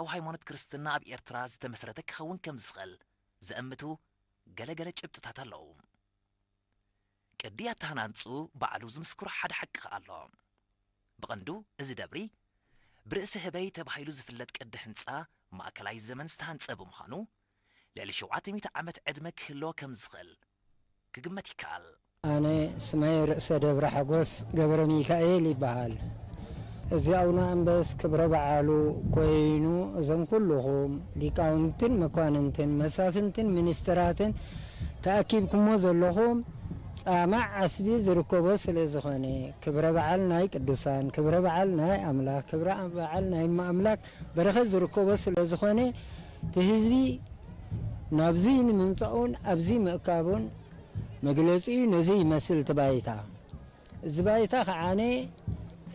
ኣብ ሃይማኖት ክርስትና ኣብ ኤርትራ ዝተመስረተ ክኸውን ከም ዝኽእል ዘእምቱ ገለ ገለ ጭብጥታት ኣለዉ። ቅዲ ኣተሃናንጽኡ ባዕሉ ዝምስክሮ ሓደ ሓቂ ከኣ ኣሎ። ብቐንዱ እዚ ደብሪ ብርእሲ ህበይ ተባሂሉ ዝፍለጥ ቅዲ ህንጻ ማእከላይ ዘመን ዝተሃንጸ ብምዃኑ፣ ልዕሊ ሸውዓተ ሚእቲ ዓመት ዕድመ ክህልዎ ከም ዝኽእል ክግመት ይከኣል። ኣነ ስመይ ርእሰ ደብረ ሓጎስ ገብረሚካኤል ይበሃል እዚ ኣውነ ኣንበስ ክብረ በዓሉ ኮይኑ እዞም ኩሉኹም ሊቃውንትን መኳንንትን መሳፍንትን ሚኒስትራትን ተኣኪብኩሞ ዘለኹም ጻማ ዓስቢ ዝርከቦ ስለ ዝኾነ ክብረ በዓል ናይ ቅዱሳን ክብረ በዓል ናይ ኣምላኽ ክብረ በዓል ናይ እመ ኣምላክ በረከት ዝርከቦ ስለዝኾነ እቲ ህዝቢ ናብዙይ ንምምፃኡን ኣብዙይ ምእካቡን መግለፂኡ ነዙይ ይመስል እቲ ባይታ። እዚ ባይታ ከዓነ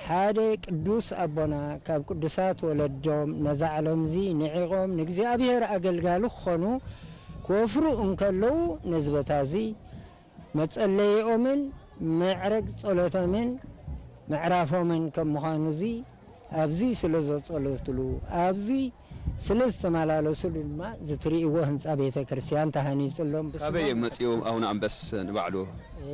ሓደ ቅዱስ ኣቦና ካብ ቅዱሳት ወለዶም ነዛ ዓለምዙይ ንዒቆም ንእግዚኣብሔር ኣገልጋሊ ክኾኑ ክወፍሩ እንከለዉ ነዚ ቦታ እዙይ መጸለይኦምን መዕረግ ጸሎቶምን ምዕራፎምን ከም ምዃኑዚ ኣብዚ ስለ ዘጸለትሉ ኣብዚ ስለ ዝተመላለስሉ ድማ እዚ ትርእይዎ ህንጻ ቤተ ክርስቲያን ተሃኒጽሎም ብስሞም ካበይ እዮም መጺኦም ኣቡነ ኣንበስ ንባዕሉ?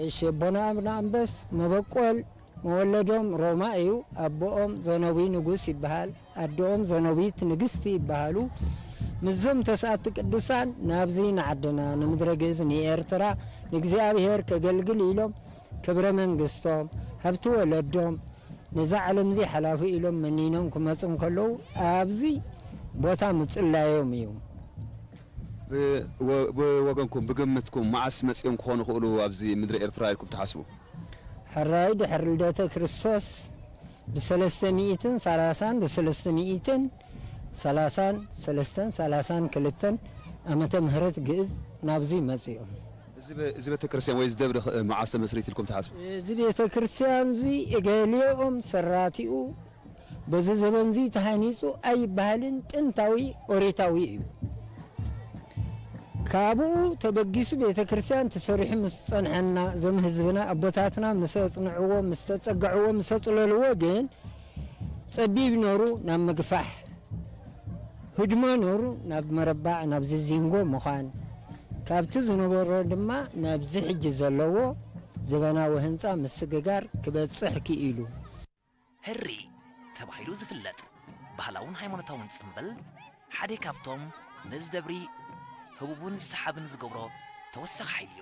እሺ ኣቦና ኣቡነ ኣንበስ መበቆል መወለዶም ሮማ እዩ ኣቦኦም ዘነዊ ንጉስ ይበሃል። ኣደኦም ዘኖቢት ንግስቲ ይበሃሉ። ምስዞም ተስኣቲ ቅዱሳን ናብዚ ንዓድና ንምድረ ግእዝ ንኤርትራ ንእግዚኣብሔር ከገልግል ኢሎም ክብረ መንግስቶም ሃብቲ ወለዶም ነዛ ዓለምዚ ሓላፉ ኢሎም መኒኖም ክመጹ እንከለዉ ኣብዚ ቦታ ምጽላዮም እዩ። ብወገንኩም ብግምትኩም መዓስ መጺኦም ክኾኑ ይኽእሉ ኣብዚ ምድረ ኤርትራ ኢልኩም ትሓስቡ? ሕራይ ድሕሪ ልደተ ክርስቶስ። ብሰለስተ ሚኢትን ሰላሳን ብሰለስተ ሚኢትን ሰላሳን ሰለስተን ሰላሳን ክልተን ኣመተ ምህረት ግእዝ ናብዙይ መጺኦም። እዚ ቤተክርስትያን ወይ እዚ ደብሪ ኸእ መዓዝ ተመስሪት ኢልኩም ትሓስቡ? እዚ ቤተክርስትያንዙይ እገሌኦም ሰራቲኡ በዚ ዘበንዙይ ተሃኒጹ ኣይበሃልን ጥንታዊ ኦሪታዊ እዩ። ካብኡ ተበጊሱ ቤተ ክርስቲያን ተሰሪሑ ምስ ጸንሐና እዞም ህዝብና ኣቦታትና ምስ ኣጽንዕዎ ምስ ተጸግዕዎ ምስ ኣጽለልዎ ግን ጸቢብ ነሩ ናብ ምግፋሕ ህድሞ ነሩ ናብ መረባዕ ናብዚ ዚንጎ ምዃን ካብቲ ዝነበሮ ድማ ናብዚ ሕጂ ዘለዎ ዘበናዊ ህንጻ ምስግጋር ክበጽሕ ክኢሉ። ህሪ ተባሂሉ ዝፍለጥ ባህላውን ሃይማኖታውን ጽምብል ሓደ ካብቶም ነዚ ደብሪ ህቡብን ሰሓብን ዝገብሮ ተወሳኺ ሓይሊ'ዩ።